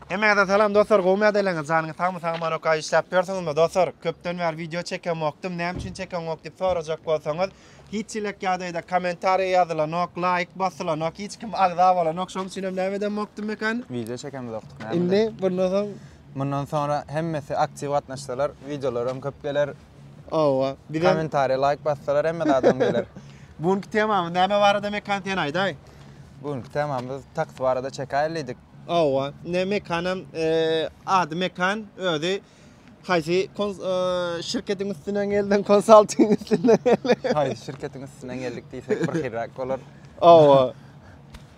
Hemmäňize salam dostlar gowymy ýagdaýlaryňyz janyňyz sagmy sagman ok işläp ýörsüňizmi dostlar köpden bäri wideo çekemokdym näme üçin çekeňok diýip sorajak bolsaňyz hiç elek ýagdaýda kommentariýa ýazylanok laýk basylanok hiç kim agza bolanok şonuň üçin hem näme edemokdym mekan wideo çekemizokdyk näme indi bundan soň Mundan sonra hemmesi aktiv gatnaşsalar videolaram köp geler. Owa. Bizem. Kommentariýa laýk bassalar hemme zadam geler. Bu günki temamyz näme barada Mekan sen aýdaý. Bu günki temamyz taks barada çekaýaly diýdik. Owa. Ine Mekanam ady Mekan özi haýsy şirketiň üstünden geldiň konsalting üstünden geldiň. Haýsy şirketiň üstünden geldik diýsek birhiliräk bolar. Owa.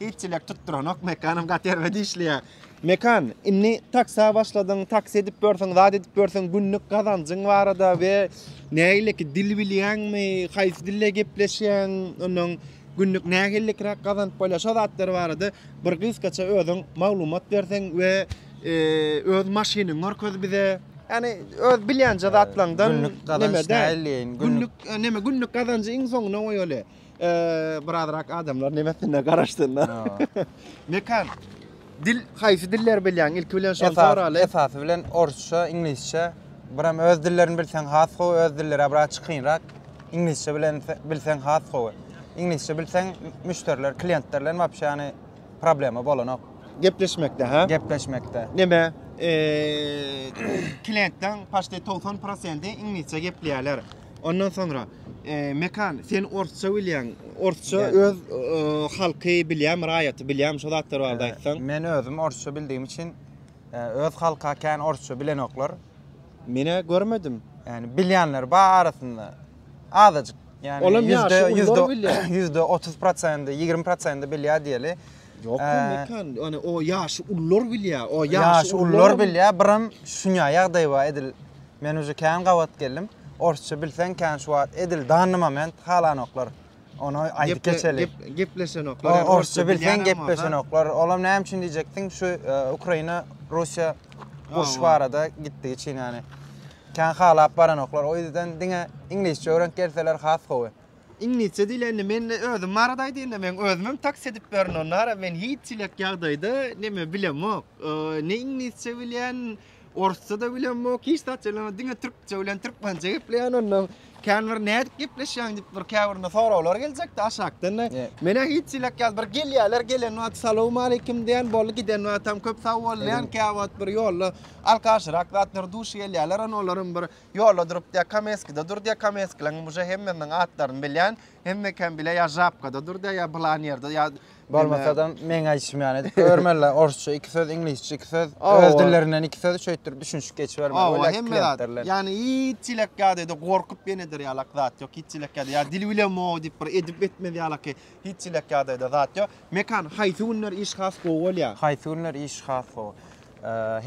Hiç çilek tutduranok, Mekanam gaty erbet işleýär. Mekan, indi taksa başladyň, taksi edip ýörsiň, zat edip ýörsiň, günlük gazanjyň barada we nähileki dil bilýäňmi, haýsy dilde gepleşýäň, ondan günlük nähilikiräk gazanyp bolýar, şo zatlar barada bir gysgaça özüň maglumat berseň we e, öz maşynyňy görkez bize. Ýani öz bilýänje zatlaňdan Günlük gazanç näme nähili, günlük- Günlük e, näme günlük gazanjy iň soňuna goýaly. birazrak adamlar nemesine garaşsynlar. Mekan, dil, haýsy dilleri bilýäň? Ilki bilen şony soraly. Esasy bilen orsça, iňlisçe, biram öz dillerini bilseň has gowy, öz dilleri biraz çykynrak. Iňlisçe bilen bilseň has gowy. Iňlisçe bilseň müşderiler, klientler bilen wapşe ýany problema bolanok. Gepleşmekde, ha? Gepleşmekde. Neme? Klientden paşte 90% iňlisçe gepleýärler. Ondan soňra Mekan, sen orsça bilýäň. Orsça öz halky bilýäň, raýaty bilýäň, şo zatlar barada aýtsaň. Men özüm orsça bildigim üçin öz halka kän orsça bilenoklar. Menä görmedim. Ýani bilýänler bar arasynda. Azajyk. Ýani Olam ýaşy ýüzde bilýär. Ýüzde 30 prosent, 20 prosent bilýär diýeli. Ýok, Mekan, ýani o ýaşy ullar bilýär. O ýaşy ullar bilýär, biram şuňa ýagdaý bar edil. Men uje kän gabat geldim. Orsça bilseň kän şu wagt edil danny moment halanoklar. Ony aýdyp geçeli. Gep, gep, gepleşenoklar. Ýa orsça bilseň gepleşenoklar. Olam näme üçin diýjekdiň? Şu e, Ukraina Russiýa uruş barada gitdigi üçin ýani. Kän halap baranoklar. O ýüzden diňe iňlisçe öwrenip gelseler has gowy. Iňlisçe diýlende men de özüm barada aýdýanda men özüm hem taks edip berin onara men hiç çilek ýagdaýda neme bilemok. Ne iňlisçe bilýän, Orsça da bilemok, hiç zat bilemok, diňe türkçe bilen türkmençe gepleýän onda. Kän bir nädip gepleşýäň diýip bir käbirine soraglar geljekdi aşakdan-da. Menä hiç ýylak ýaly bir gelýärler, gelen wagt salowmaleýkim diýen, boldy, giden wagtam köp sag bol diýen, käwagt bir ýolda alkaşyrak zatlar duş gelýärler, onda olar hem bir ýolda durup diýýär, Kameskide dur diýýär, Kameskileň hem uje hemmesiniň atlaryny bilýän, hemmekem bile ýa Žabkada dur diýýär, ýa pylan ýerde, ýa Bolmasadam meň aýdyşym ýaly edip görmeliler. Orsça iki söz, iňlisçe iki söz, öz dillerinden iki söz şeýtdir düşünişip geçibermeli. Owa, hemme zat. Ýani hiç çilek ýadady, gorkup ýeneder ýaly zat ýok. Hiç çilek ýady. Ýa dil bilemok o diýip bir edip etmez ýaly hiç çilek ýadady zat ýok. Mekan, haýsy günler iş has gowy bolýar? Haýsy günler iş has gowy?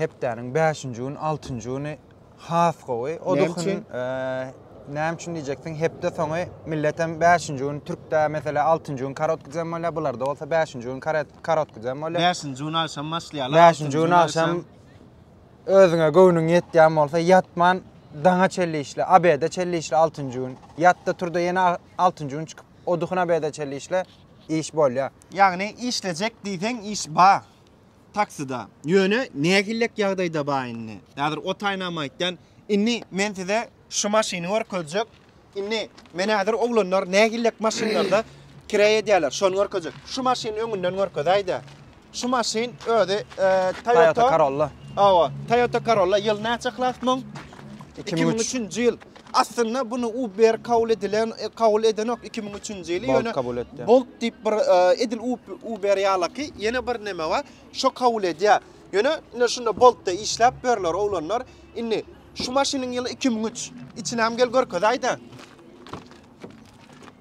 Hepdäniň 5-nji güni, 6-njy güni Has gowy. O Näme duhun üçin? e, näme üçin diýjeksin? Hepde soňy milletem 5-nji gün türkde mesela 6-njy gün korotký dzen bolýar, bularda bolsa 5-nji gün karet- korotký dzen bolýar. 5-nji gün agşam başlaýarlar. 5-nji gün agşam özüňe göwnüň ýetýän bolsa ýatman daňa çenli işle, abede çenli işle 6-njy gün. Ýatda turda ýene 6-njy gün çykyp o duhun abede çenli işle iş bolýar. Ýagny işlejek diýseň iş bar. Taksida. Ýöne nähillek ýagdaýda ba indi. Häzir otaýynam aýtýan. Indi men size şu maşyny görkezjek. Indi men häzir oglanlar nähillek maşynlarda kireý edýärler, şony görkezjek. Şu maşyny öňünden görkezäýdä. Şu maşyn özi Toyota Corolla. Hawa, Toyota Corolla. Ýyl näçe klas muň? Iki müň üçünji ýyl. Aslynda bunu Uber kabul edilen e, kabul edenok 2003-nji ýyly Bolt ýöne kabul etdi. Bolt diýip bir e, edil Ub- Uber ýalaky ýene bir näme bar? Şo kabul edýär. Ýöne ine şunda Boltda işläp berler oglanlar. Indi şu maşynyň ýyly 2003. Içinäm gel görkezaýda.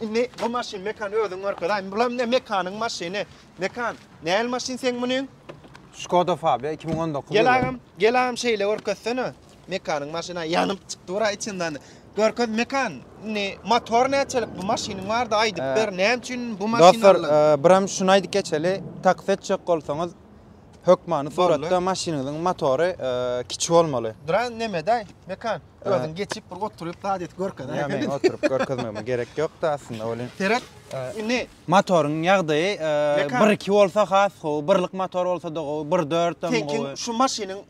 Indi bu maşyn Mekan özüň görkez. Aý, bulam ne Mekanyň maşyny. Mekan, nähili maşyn seň munyň? Skoda Fabia iki müň on dokuz ýyly. Gel agam, gel agam şeýle görkezsene. Mekanyň maşyny aý ýanyp çykdy bir aý içinden. Görkez Mekan, indi motor näçelik bu maşynyň bardy aýdyp ber. Näme üçin bu maşyny aldyň? Dostlar, birem şuny aýdyp geçeli. Taksi etjek bolsaňyz hökmany suratda maşynyňyzyň motory kiçi bolmaly. Duran nemede aý, Mekan? Özüň geçip bir oturyp zat et görke. Ýa men oturyp görkezmegime gerek ýokdy aslynda welin. Seret. Indi motoryň ýagdaýy 1-2 bolsa has gowy, birlik motor bolsa-da gowy, 1-4 hem gowy. Seňki şu maşynyň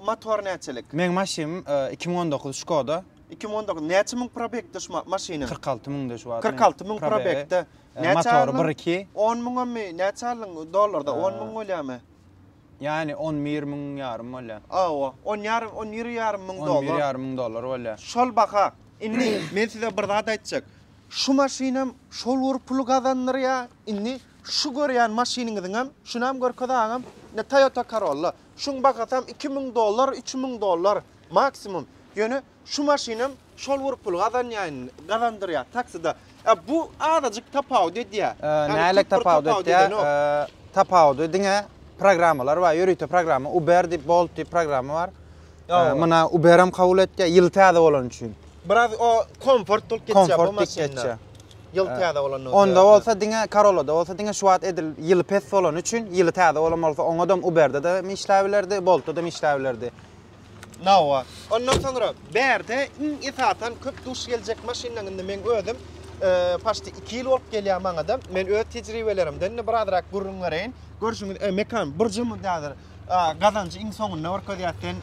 motory näçelik? Meň maşynym 2019 Skoda. 2019 näçe müň probegde şu maşynyň? 46 müňde şu wagt. 46 müň probegde. Motory 1-2. 10 müňemi näçe aldyň dollarda? 10 müň bolýarmy? Ýany on bir müň ýarym bolýar. Hawa, on ýarym, on bir ýarym müň dollar. On bir ýarym müň dollar bolýar. Şol baha. Indi men size bir zat aýtjak. Şu maşynam şol bir puly gazandyrýar. Indi şu görýän maşynyňyzyňam, şunam görkez agam, ine Toyota Corolla. Şuň bahasam iki müň dollar, üç müň dollar maksimum. Ýöne Şu maşynam şol bir pul gazanýaýn, gazandyrýar taksida. E, bu azajyk tapawut edýär. Nälik tapawut edýär? Tapawudy diňe programmalar bar, ýörite programma, Uber diýip, Bolt diýip programma bar. Muna Uberam kabul etýär, ýyly täze bolany üçin. Biraz o komfort bolup geçýär bu maşynda. Ýyl täze bolanda. Onda bolsa diňe Karolada bolsa diňe şu wagt edil ýyly pes bolany üçin, ýyly täze bolan bolsa oňadam Uberde-de işläp bilerdi, Boltda-da işläp bilerdi. Nawa. Ondan soňra bärde iň esasan köp duş geljek maşynlaň indi meň özüm paşti 2 ýyl bolup gelýär maňada. Men öz tejribelerimden indi birazrak gürrüň bereýin. Görşüňiz, mekan burjumyz häzir gazanjy iň soňunda görkezýär sen.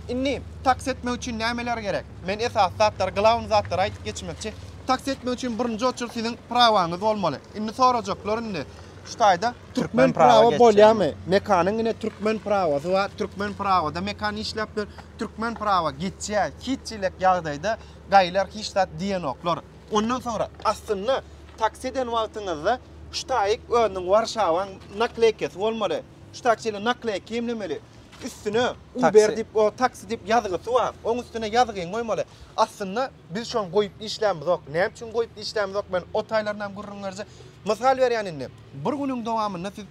Indi taksi etmek üçin nämeler gerek? Men esasy zatlary, glawny zatlary aýdyp geçmekçi. Taksi etmek üçin birinji oçurt siziň prawaňyz bolmaly. Indi sorajaklar indi. Şu taýda türkmen prawa bolýamy? Mekanyň ine türkmen prawasy bar. Türkmen prawada mekan işläp dur. Türkmen prawa geçýär. Hiç çilek ýagdaýda gaýylar hiç zat diýenoklar. Ondan soňra aslynda taksi eden wagtyňyzda şu taýyk özüniň Warşawaň nakleýkasy bolmaly. Şu taýyk şeýle nakleýka emlemeli. Üstüne Uber diýip, o taksi diýip ýazgysy bar. Oň üstüne ýazgyňy goýmaly. Aslynda Biz şony goýup işlämizok. Näme üçin goýup işlämizok? Men o taýlarynam gürrüň berjek. Mysal berýän indi. Bir günüň dowamynda siz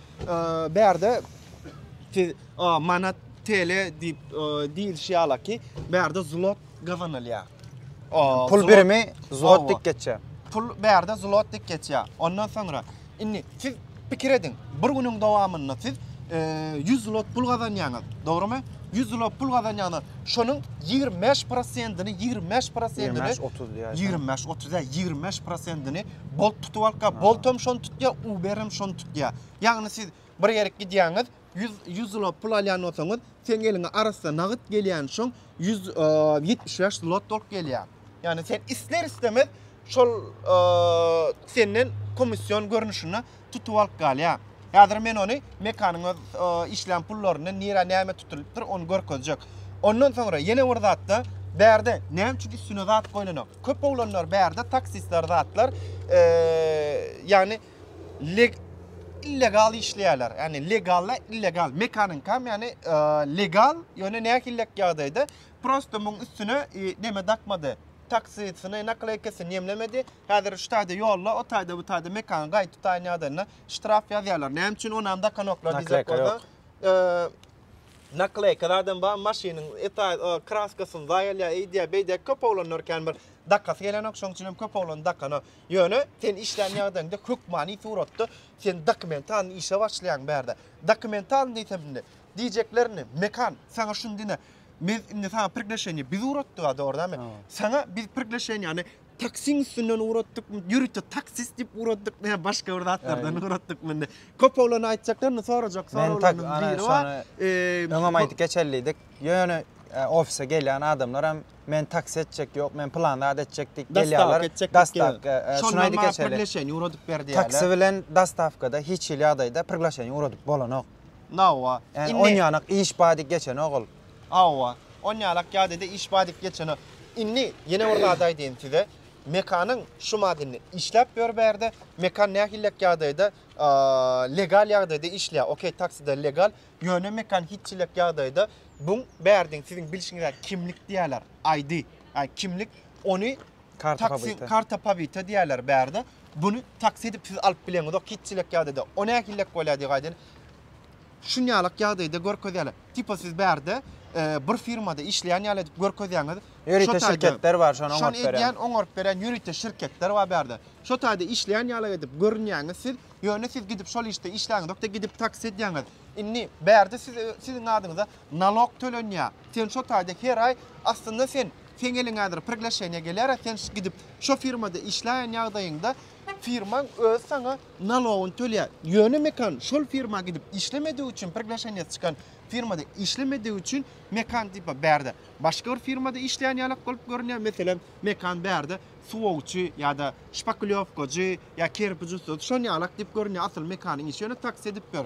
bärde siz manat, TL diýip diýilişi ýala ki, bärde zlot gazanylýar. Pul birimi zlot diýip geçýär. Pul bärde zlot diýip geçýär. Ondan soňra Indi siz pikir ediň, bir günüň dowamynda siz ýüz zlot pul gazanýaňyz, dogrymy? Ýüz zlot pul gazanýaňyz, şonuň ýigrimi bäş prosentini, ýigrimi bäş prosentini, ýigrimi bäş, otuz diýýär. Ýigrimi bäş, otuz diýýär, ýigrimi bäş prosentini bolt tutup alypka, bolt hem şony tutýar, uber hem şony tutýar. Ýagny siz bir ýerik gidýäňiz, Ýüz ýüz zlot pul alýan bolsaňyz, seň eliňe arassa nagyt gelýän şoň ýüz ýetmiş bäş zlot bolup gelýär. Ýagny sen isler istemez şol senden komissiýon görnüşinde tutup alyp galýar. Häzir men ony mekanyň öz işlän pullaryndan nirä näme tutulypdyr ony görkezjek. Ondan soňra ýene bir zatda bärde näme üçin üstüne zat goýlanok? Köp oglanlar bärde taksistler zatlar ýagny leg illegal işleýärler. Ýagny legalla illegal. Mekaninkam ýagny legal, ýöne nähillek ýagdaýda prosta muň üstüne neme dakmady. Taksisini, nakleýkasini ýemlemedi. Häzir şu taýda ýolda, o taýda, bu taýda mekany gaýyp tutaýan ýagdaýynda ştraf ýazýarlar. Näme üçin onam dakanoklar diýjek bolsa. Nakleýka zadam bar, maşynyň kraskasyny zaýa elýär, eýdýär, beýdýär. Köp oglanlar kän bir dakasy gelenok, şoň üçin hem köp oglan dakanok. Ýöne sen işlän ýagdaýyňda hökmany suratda sen dokumentalny işe başlaýaň bärde. Dokumentalny diýsem indi diýjeklerini Mekan saňa şuny diýne. Biz indi saňa prigleşeniýe biz uratdyk-a dogrydanmy? Saňa biz prigleşeniýäni taksiň üstünden uratdykmy, ýörite taksist diýip uratdykmy ýa başga bir zatlardan uratdykmy indi? Köpügleriň aýtjaklarynda sorajak soraglarynyň biri bar. Öňem aýdyp geçelidik. Ýöne ofise gelýän adamlar hem men taksi etjek yok, men plan zat etjek diýip gelýärler. Dastavka etjek. Şuny aýdyp geçeli. Priglaşeniýe ugradyp ber diýýärler. Taksi bilen dastavkada hiç hili ýagdaýda priglaşeniýe ugradyp bolanok. Nawa. Indi onýanak iş bar diýip geçenok ol. Hawa. Onýanak ýagdaýda iş bar diýip geçenok. Indi ýene bir zat aýdaýyn size. Mekanyň şu madenni işläp ýör bärde. Mekan nähillek ýagdaýda legal ýagdaýda işleýär. Okey, takside legal. Ýöne Mekan hiç çilek ýagdaýda buň bärdiň siziň bilşiňizä kimlik diýäler, ID, ýa kimlik, ony Karta taksi, pobyta. karta pobyta diýäler bärde. Buny taksi edip siz alyp bileňizok hiç çilek ýagdaýda. O nähillek bolýa diýip aýdaýyn. Şunýalak ýagdaýda görkezýäler. Tipa siz bärde e, bir firmada işleýän ýaly edip görkezýäňiz. Ýörite Şo taýda- şirketler bar, şony Şony oňaryp berýän. edýän, oňaryp berýän ýörite şirketler bar bärde. Şo taýda işleýän ýaly edip görünýäňiz siz. Ýöne siz gidip şol işde işläňizok-da gidip taksi edýäňiz. Indi bärde siz siziň adyňyza nalog tölenýä. Sen şo taýda her aý aslynda sen seň eliňe häzir priglaşeniýa gelýär-ä sen gidip şo firmada işläýen ýagdaýyňda firmaň özi saňa nalogyny tölýä. Ýöne Mekan şol firma gidip işlemedigi üçin priglaşeniýasy çykan firmada işlemedigi üçin Mekan tipa bärde başga bir firmada işleýän ýalak bolup görünýär. Meselem Mekan bärde suwagçy ýa-da şpaklýowkajy ýa kerpiç ustasy şon ýalak diýip görünýär asyl mekanyň işi ýöne taksi edip ýör.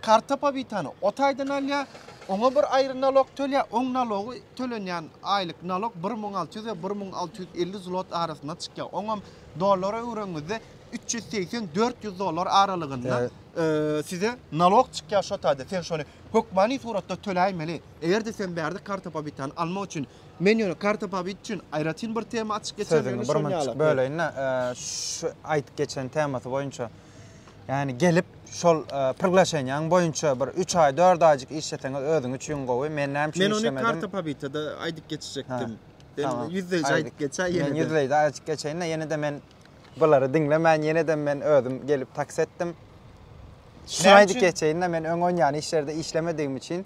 Karta pobitany o taýdan alýar, oňa bir aýry nalog tölýär, oň nalogy tölenýän aýlyk nalog bir müň alty ýüz we bir müň alty ýüz elli zlot arasynda çykýar, oňam dollara öwrengiňizde üç ýüz segsen, dört ýüz dollar aralygynda size nalog çykýar şo taýda sen şony hökmany suratda töläýmeli. Eger-de sen bärde karta pobitany almak üçin Men ýöne karta pobit üçin aýratyn bir tema açyp geçem, ýöne şony ýaly. Sözüňi bir böleýin-de, şu aýdyp geçen temasy boýunça, ýagny gelip şol priglaşeniýaň boýunça bir üç aý, dört aýjyk işleseňiz özüň üçin gowy. Men näme üçin işlemedim? Men ony karta pobita-da aýdyp geçjekdim. Tamam. Ýüzleýji aýdyp geçäý ýene-de. Men ýüzleýji aýdyp geçeýin-de, ýene-de men bulary diňlemän, ýene-de men özüm gelip taksi etdim. Şuny aýdyp geçeýin-de, men öň onýan işlerde işlemedigim üçin,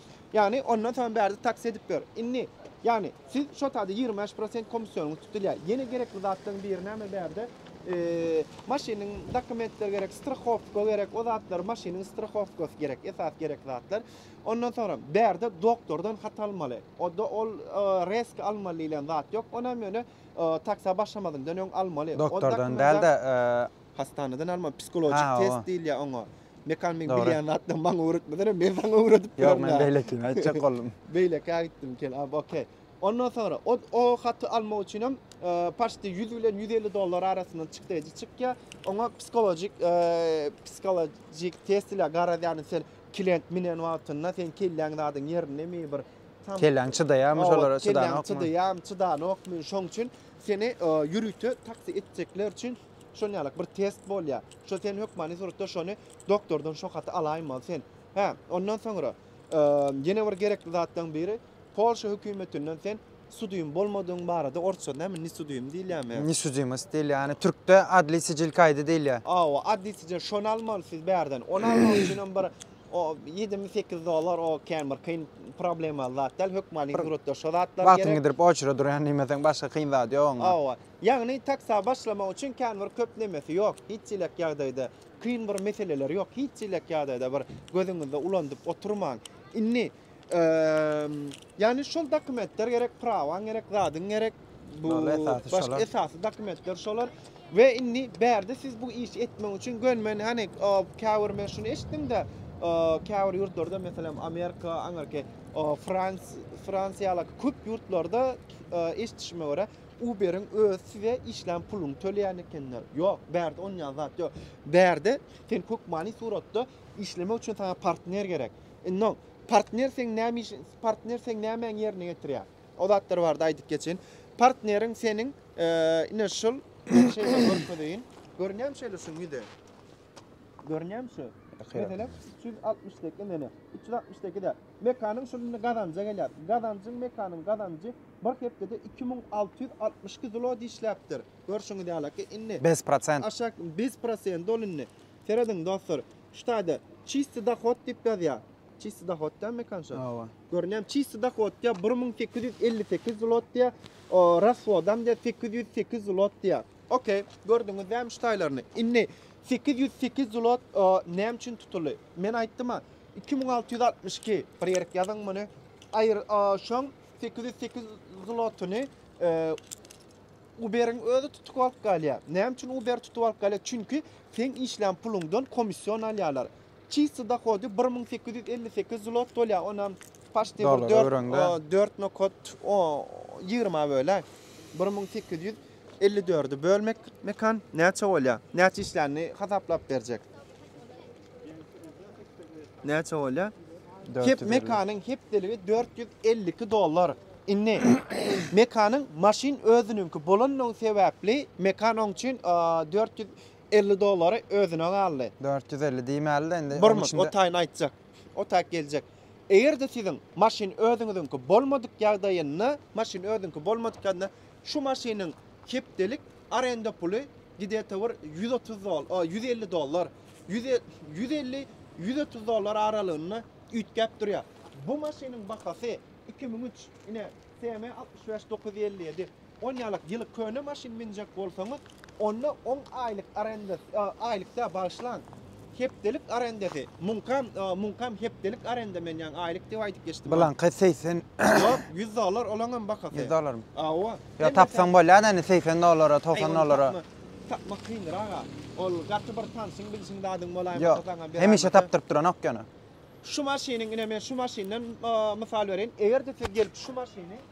Ýagny ondan soň bärde taksi edip ýör. Indi, ýagny, siz şo taýda ýigrimi bäş prosent komissionyňyz tutulýar. Ýene gerekli zatlaryň biri näme bärde? Maşynyň dokumentleri gerek, strahowka gerek, o zatlar, maşynyň strahowkasy gerek, esas gerekli zatlar. Ondan soňra bärde doktordan hat almaly. O-da ol reski almaly diýlen zat ýok. Ony hem ýöne taksa başlamazyňdan öň almaly. Doktordan däl-de, hastanadan almaly, psihologik test diýilýär oňa. Mekan men Dogry. bilýän zatdan maňa öwretmesene, men saňa öwredip Ýok, duraryn. men ha. beýlekini aýtjak boldum. Beýlekä gitdim kel. Ab, okey. Ondan soňra o, o haty almak üçin hem e, paşti 100 bilen 150 dollar arasynda çykdaýjy çykýar. Oňa psihologik, e, psihologik test ile garaz, ýagny sen klient minen wagtynda sen kelläň zadyň ýerindemi, bir tam Kelläň çydaýarmy Owa, şolara, kelläň çydanokmy? Çydaýam, çydanokmy? Şoň üçin seni e, ýörite taksi etjekler üçin Şonuň ýaly bir test bolýar. Şo sen hökmany suratda şony doktordan şo haty alaýmaly sen. Hä, ondan soňra ýene bir gerekli zatlaryň biri Polşa hökümetinden sen sudym bolmadygyň barada orsça näme nisudym diýilýärmi? Nisudimist diýilýär. Ýani türkde adli sicil kaýdy diýilýär. Hawa, adli sicil şony almaly siz bärden. Ony almak üçin hem bir ýedimi sekiz dollar o kän bir kyn problemaly zat däl. Hökmany suratda şo zatlar gerek. Wagtyňy gidirip oçura durýan diýmeseň başga kyn zat ýok onda. Hawa. Ýagny taksa başlamak üçin kän bir köp nemesi ýok, hiç çilek ýagdaýda kyn bir meseleleri ýok, hiç çilek ýagdaýda bir gözüňizde ulandyp oturmaň. Indi ýagny şol dokumentler gerek, prawaň gerek, zadyň gerek, bu başga esasy dokumentler şolar. We indi bärde siz bu işi etmek üçin gön men hani käbir men şuny eşitdim-de, käbir ýurtlarda meselem Amerika, Anarke, Frans, Fransiýa ýaly köp ýurtlarda eşitişime görä, Uberiň özi size işlän puluňy töleýän ekenler. Ýok, bärde onýan zat ýok. Bärde sen hökmany suratda işlemek üçin saňa partner gerek. Indi partner seň näme iş, partner seň nämäňi ýerine getirýär? O zatlar barada aýdyp geçen. Partneriň seniň e, ine şul şeýle görkezeýin. Görünýärmi şeýle şuň ýüzi? Görünýärmi şu? Mesela 360 dek, indi 360 dek de Mekanyň şol indi gazanja gelýär. Gazanjyň Mekanyň gazanjy bir hepdede iki müň alty ýüz altmyş iki zlot işläpdir. Görşüňiz ýaly ki, indi. Bez prosent. Aşak bez prosenti ol indi. Serediň dostlar, şu taýda çisti dohod diýip ýazýar. Çisti dohod diýýär Mekan şo. Hawa. Görün ýa çisti dohod diýýär bir müň sekiz ýüz elli sekiz zlot diýýär. O rashodam diýýär sekiz ýüz sekiz zlot diýýär. Okey, gördüňiz dämi şu taýlaryny. Indi sekiz ýüz sekiz zlot näme üçin tutuldy? Men aýtdym-a, Iki müň alty ýüz altmyş iki, bir ýerik ýazyň muny. Aýr, a, şoň sekiz ýüz sekiz zlotyny Uberiň özi tutup alyp galýar. Näme üçin Uber tutup alyp galýar? Çünki sen işlän puluňdan komissiýon alýarlar. Çisti dohody 1858 zlot bolýar. Onam paşti 4 4 nokot 20 böle 1854-i bölmek mekan näçe bolýar? Näçe işlänini hasaplap berjek. Näçe bolýar? Hep mekanyň hepdeligi 452 dollar. Indi mekanyň maşyn özüniňki bolanlygy sebäpli mekan oň üçin 450 dollary özüne galdy. 450 diýmäli-de indi. Bir minut, o taýyny aýtjak. O taýyk geljek. Eger-de siziň maşyn özüňiziňki bolmadyk ýagdaýynda, maşyn özüňki bolmadyk ýagdaýynda şu maşynyň Hepdelik arenda puly gidete bir ýüz otuz dol, o, ýüz elli dollar, ýüz e, ýüz elli, ýüz otuz dollar aralygynda üýtgäp durýar. Bu maşynyň bahasy iki müň üç, ine, TM altmyş bäş dokuz ýüz elli ýedi. On ýalak ýyly köne maşyn münjek bolsaňyz, onda oň aýlyk arendasy, o, aýlyk dä, bagyşlaň, Hepdelik arendasy. Muňkam, muňkam hepdelik arenda men ýaňy aýlyk diýip aýdyp geçdim. Bulaňky segsen. Ýok, ýüz dollar olaňam bakasy. Ýüz dollarmy? Hawa. Ýa tapsaň bolýar-da indi segsen dollara, togsan dollara. Tapmak kyndyr aga. Ol gaty bir tanşyň bilşiň zadyň bolaýmasa saňa bir zat. Ýok, hemişe tapdyryp duranok ýöne. Şu maşynyň ine men şu maşyndan mysal bereýin. Eger-de siz gelip şu maşyny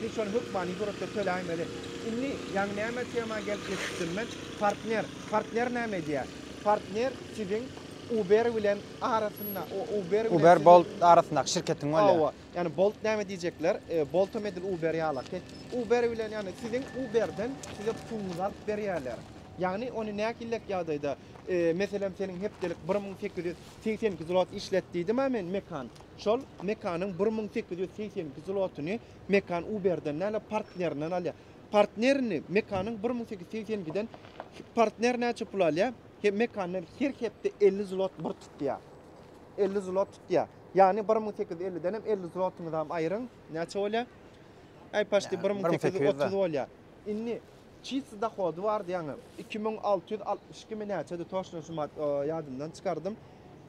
Men şony hökmany suratda töläýmeli. Indi, ýaňy näme tema gelip ýetişdim men? Partner. Partner näme edýär? Partner siziň Uber bilen arasynda, o Uber bilen siziň. Uber, Bolt arasyndaky şirketiň bolýar. Hawa, ýani Bolt näme diýjekler? Boltam edil Uber ýalaky. Uber bilen, ýani siziň Uberden size puguňyzy alyp berýärler. Ýagny ony nähillek ýagdaýda, meselem seniň hepdelik bir müň sekiz ýüz segsen iki zlot işlet diýdim-ä men mekan. Şol Mekanyň bir müň sekiz ýüz segsen iki zlotyny Mekan Uberden däl-de partnerinden alýar. Partnerini Mekanyň bir müň sekiz ýüz segsen ikiden partner näçe pul alýar? He, Mekandan her hepde elli zlot bir tutýar. Elli zlot tutýar. Ýagny bir müň sekiz ýüz elliden hem elli zlotyňyzam aýryň, näçe bolýar? Äý, paşdy bir müň sekiz ýüz otuz bolýar. Indi Çist dohody bar diýýäňä iki müň alty ýüz altmyş iki mi näçedi toşno şu mat ýadymdan çykardym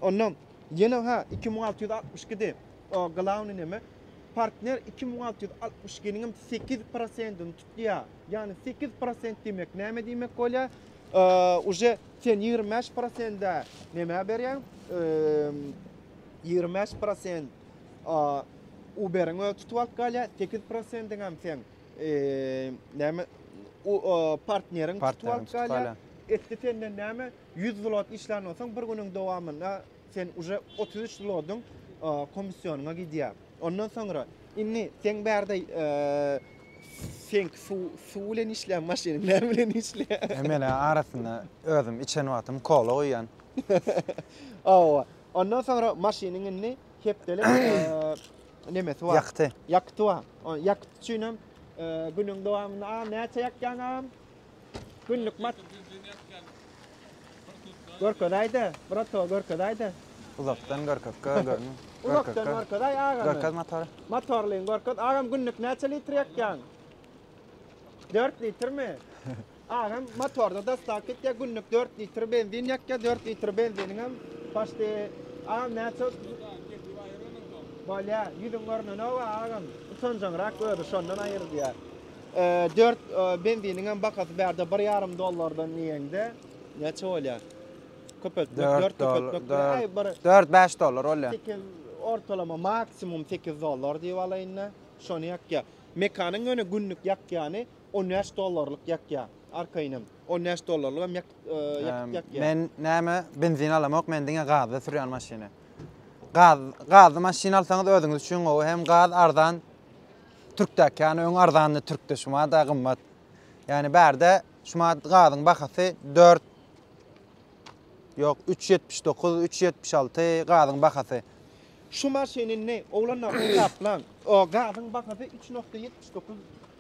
onda ýene hä iki müň alty ýüz altmyş iki di o glawny neme partner iki müň alty ýüz altmyş ikiniňem sekiz prosentini tutýa ýagny sekiz prosent diýmek näme diýmek bolýa uje sen ýigrimi bäş prosende nämä berýäň ýigrimi bäş prosent uberiň özi tutup alyp galýa sekiz prosendiňem sen Näme u partneriň tutup alyp galýar. Etdi senden näme 100 zlot işlän bolsaň bir günüň dowamynda sen uje 33 zlodyň komissionyňa gidýär. Ondan soňra indi seň bärde seň suw suw bilen işlän maşynyň näme bilen işlär. E menä arasynda özüm içen wagtym kola guýýan. Hawa. Ondan soňra maşynyň indi hepdelik Nemesi bar. Ýakty. Ýakty bar. O ýakty üçin hem günüň dowamynda a näçe ýakýan agam? Günlük mat. Görkezäýde, brato görkezäýde. Uzakdan görkezkä görme. Uzakdan görkezäý agam. Görkez motory. Motorlyny görkez. Agam günlük näçe litr ýakýan? 4 litrmi? Aňam motorda dastap gitýär, günlük dört litr benzin ýakýar, dört litr benziniňem başdy agam näçe Bolýa, ýüzüň görnenow agam, utanjaňrak özi şondan aýyr diýär. Dört benziniňem bakasy bärde bir ýarym dollardan diýende näçe bolýar? Köpeltmek, dört köpeltmek, aý bir dört bäş dollar bolýar. Sekiz ortalama maksimum sekiz dollar diýip alaýynda, şony ýakýar. Mekanyň ýöne günlük ýakýany On bäş dollarlyk ýakýa arkaýynam. On bäş dollarlygam ýak ýakyp ýakýa. Men näme benzin alamok men diňe gazda sürýän maşyny. Gaz gazly maşyn alsaňyz özüňiz üçin gowy hem gaz arzan. Türkdäki ýany öň arzandy türkde şuma da gymmat. Ýani bärde şuma gazyň bahasy 4 Ýok 379 376 gazyň bahasy. Şu maşyny ne oglanlar hasaplaň. O gazyň bahasy 3.79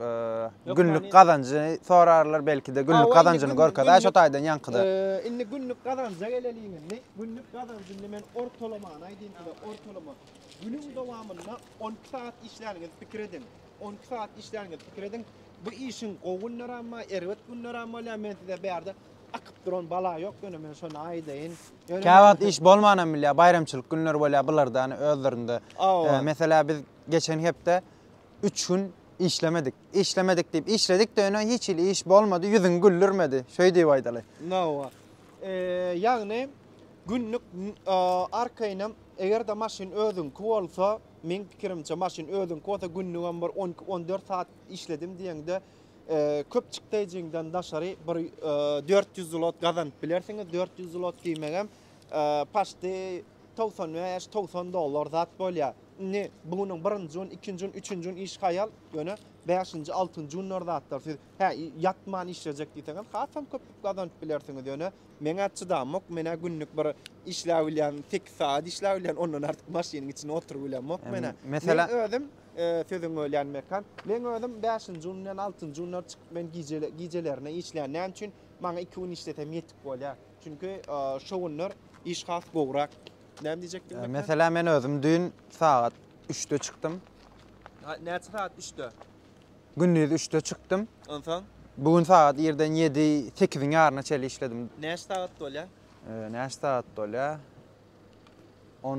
e, günlük gazanjy sorarlar belki de günlük gazanjyny görkezä şu taýdan ýaňkyda. E, indi günlük gazanja geleliň indi. Günlük gazanjyny men ortalamany aýdyň size, ortalama. Günüň dowamynda 12 saat işläniňiz pikir ediň. 12 saat işläniňiz pikir ediň. Bu işiň gowy günleri hem bar, erbet günleri hem bolýar. Men size bu ýerde akyp duran bala ýok, ýöne men şony aýdaýyn. Käwagt iş bolman hem bilýär, baýramçylyk günleri bolýar bularda özlerinde. E, meselä biz geçen hepde Üç gün işlemedik. Işlemedik diýip işledik-de ýöne hiç hili iş bolmady, ýüzüňi güldürmedi. Şeý diýip aýdaly. Hawa. Ýagny günlük arkaýynam eger-de maşyn özüňki bolsa, meň pikirimçe maşyn özüňki bolsa günlügem bir on iki, on dört saat işledim diýeňde köp çykdaýjyňdan daşary bir dört ýüz zlot gazanyp bilersiňiz. Dört ýüz zlot diýmegem paşty Togsan bäş, togsan dollar zat bolýar. Indi bu günüň birinji gün, ikinji gün, üçünji gün iş haýal, ýöne bäşinji, altynjy günler zatlar siz hä ýatman işlejek diýseňem hasam köp pul gazanyp bilersiňiz. Ýöne meň-ä çydamok, men-ä günlük bir işläp bilýän, sekiz sagat işläp bilýän, ondan artyk maşynyň içinde oturyp bilemok men-ä. Meselem, Men özüm, sözüňi bölýän Mekan, meň özüm bäşinji gün bilen altynjy günler çykyp men gije, gijelerine işleýän. Näme üçin? Maňa iki gün işlesem ýetik bolýar. Çünki şu günler iş has gowrak. Näme diýjekdim? Ee, Mesela men özüm düýn sagat 3-de çykdym. Näçe sagat 3-de? Gündiz 3-de çykdym. Onsoň Bu gün sagat irden 7-8-iň ýaryna çeli işledim. näçe sagat bolýar? Ee, Näçe sagat bolýar? On...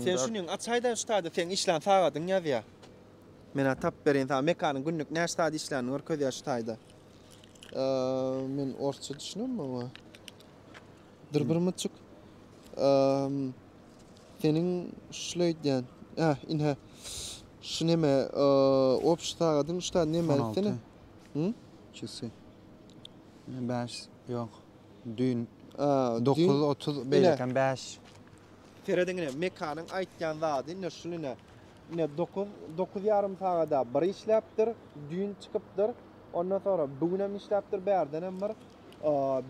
Sen şunyň açaýda şu taýda seň işlän sagadyň ýazýar. Men tap berin sana mekanyň günlük näçe saat işlänini görkezýär şu taýda. Men orsça düşünemmi oňa? Dyrbyrmyçyk. Seniň şul aýdýan. Hä, inhä. Şu näme? Obş sagadyň şu taýda näme aýtdyny? Hı? Çyksy. Bäş, ýok. Düýn 9.30 beýlekem 5. Serediňine, Mekanyň aýtýan zady indi şul ine. Ine, dokuz, dokuz ýarym sagada bir işläpdir, düýn çykypdyr. Ondan soňra bu gün hem işläpdir, bärdenem bir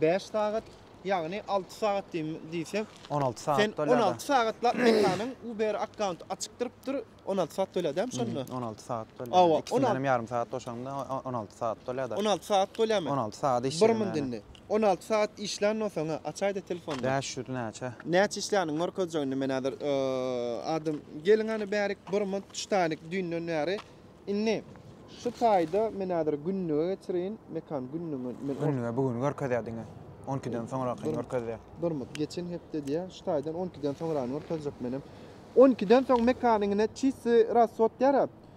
bäş sagat, ýagny alty sagat diýim diýsek. On alty sagat Sen on alty sagatlap mekanyň Uber akkaunty açyk durupdyr, on alty sagat tölýädämi şonda? On alty sagat tölýär. Awa, on alty. Ikisinden hem ýarym sagat goşaňda on alty sagat tölýär-de. On alty sagat tölýärmi? On alty sagat işledim. Bir mündinde. On alty sagat işlänno soňa açaýda telefony. Bäş ýüz näçe. Näçe işländiň görkezjek indi men häzir adam geliň hany bärik burma tutaýlyk düýnden bäri indi şu taýda men häzir günlige geçirin mekan günlige men günlige bu gün görkezýä diňe on ikiden soňrakyny görkezýä durmut geçen hepde diýä şu taýdan on ikiden soňrany görkezjek menem on ikiden soň mekany ine çisti rasswod diýär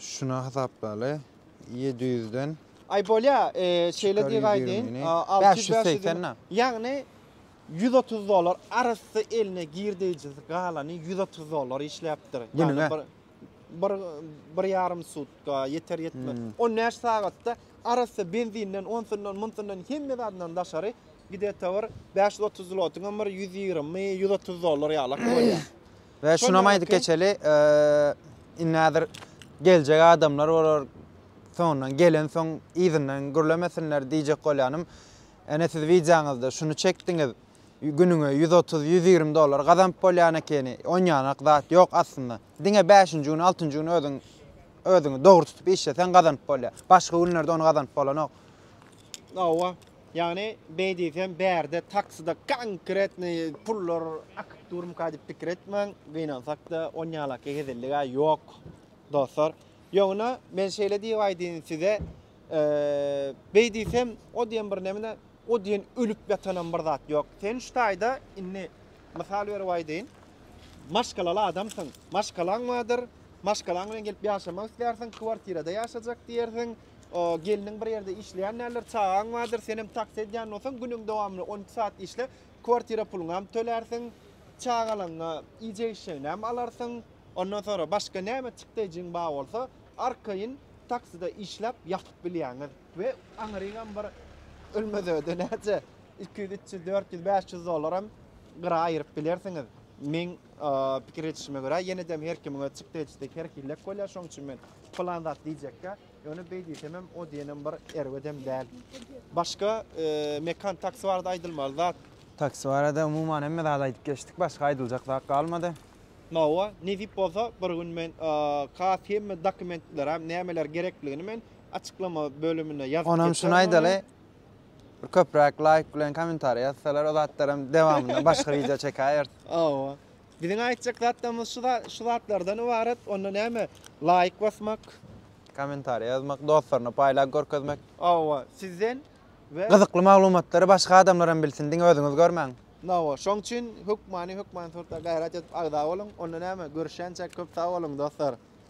Şuna hasaplaly. Ýedi ýüzden. Aý bolýa, şeýle diýgaýdyn. Alty ýüz bäş ýüz. Ýagny ýüz otuz dollar arassa eline girdeýjisi galany ýüz otuz dollar işläpdir. Ýagny bir bir bir ýarym sutka ýeter ýetmez. On bäş sagatda arassa benzinden onsundan munsundan hemme zadyndan daşary gide-de bir bäş ýüz otuz zlotyňam bir ýüz ýigrimi ýüz otuz dollar ýalak bolýa. We şunam aýdyp geçeli, indi häzir geljek adamlar bolar, soňundan gelensoň yzyndan gürlemesinler diýjek bolýanym. Ene siz wideoňyzda şuny çekdiňiz, günüňe ýüz otuz, ýüz ýigrimi dollar gazanyp bolýan ekeni, onýanak zat ýok aslynda. Diňe bäşinji gün, altynjy gün özüň özüňi dogry tutup işleseň gazanyp bolýar. Başga günlerde ony gazanyp bolanok. Hawa. Ýagny, beý diýsem, bärde taksida konkretnyý pullar akyp durmyka diýip pikir etmäň, gynansak-da, onýalaky hezellik-ä ýok, dostlar. Ýogna, men şeýle diýip aýdaýyn size, beý diýsem, o diýen bir näme-de, o diýen ölüp ýatanam bir zat ýok. Sen şu taýda indi, mysal berip aýdaýyn, maşgalaly adamsyň, maşgalaň bardyr, maşgalaň bilen gelip ýaşamak islärsiň, kwartirada ýaşajak diýersiň, Gelniň bir ýerde işleýän däldir, çagaň bardyr, sen hem taksi edýän bolsaň, günüň dowamynda on iki saat işle, kwartira puluňy hem tölärsiň, çagalaňa iýjek-içjegini hem alarsyň. Ondan soňra başga näme çykdaýjyň bar bolsa, arkaýyn takside işläp ýapyp bilýäňiz. We aňryňam bir ölmez öýde näçe iki ýüz, üç ýüz, dört ýüz, bäş ýüz dollar hem gyra aýyryp bilersiňiz. Meň pikir edişime görä, ýene-de her kimiň öz çykdaýjysy, her hillek bolýar, şonuň üçin men Pylan zat diýjekkä, ýöne beý diýsemem, o diýenem bir erbedem däl. Başga Mekan taksi barada aýdylmaly zat? Taksi barada umuman hemme zady aýdyp geçdik, başga aýdyljak zat galmady. Hawa, nesip bolsa bir gün men has hemme dokumentlerem nämeler gerekligini men açyklama bölümine ýazyp geçerin. Onam şuny aýdaly, bir köpräk laýk bilen kommentariý ýazsalar, o zatlaram dewamynda başga wideo çekäýeris. Hawa. Biziň aýtjak zatlarymyz şu zat şu zatlardan ybarat onda näme laýk basmak. Kommentariýa ýazmak dostlaryna paýlap görkezmek. Hawa sizden we. Gyzykly maglumatlary başga adamlaram bilsin diňe özüňiz görmäň. Hawa şoň üçin hökmany hökmany sorta gaýrat edip agza boluň onda näme görüşýänçäk köp sag boluň dostlar.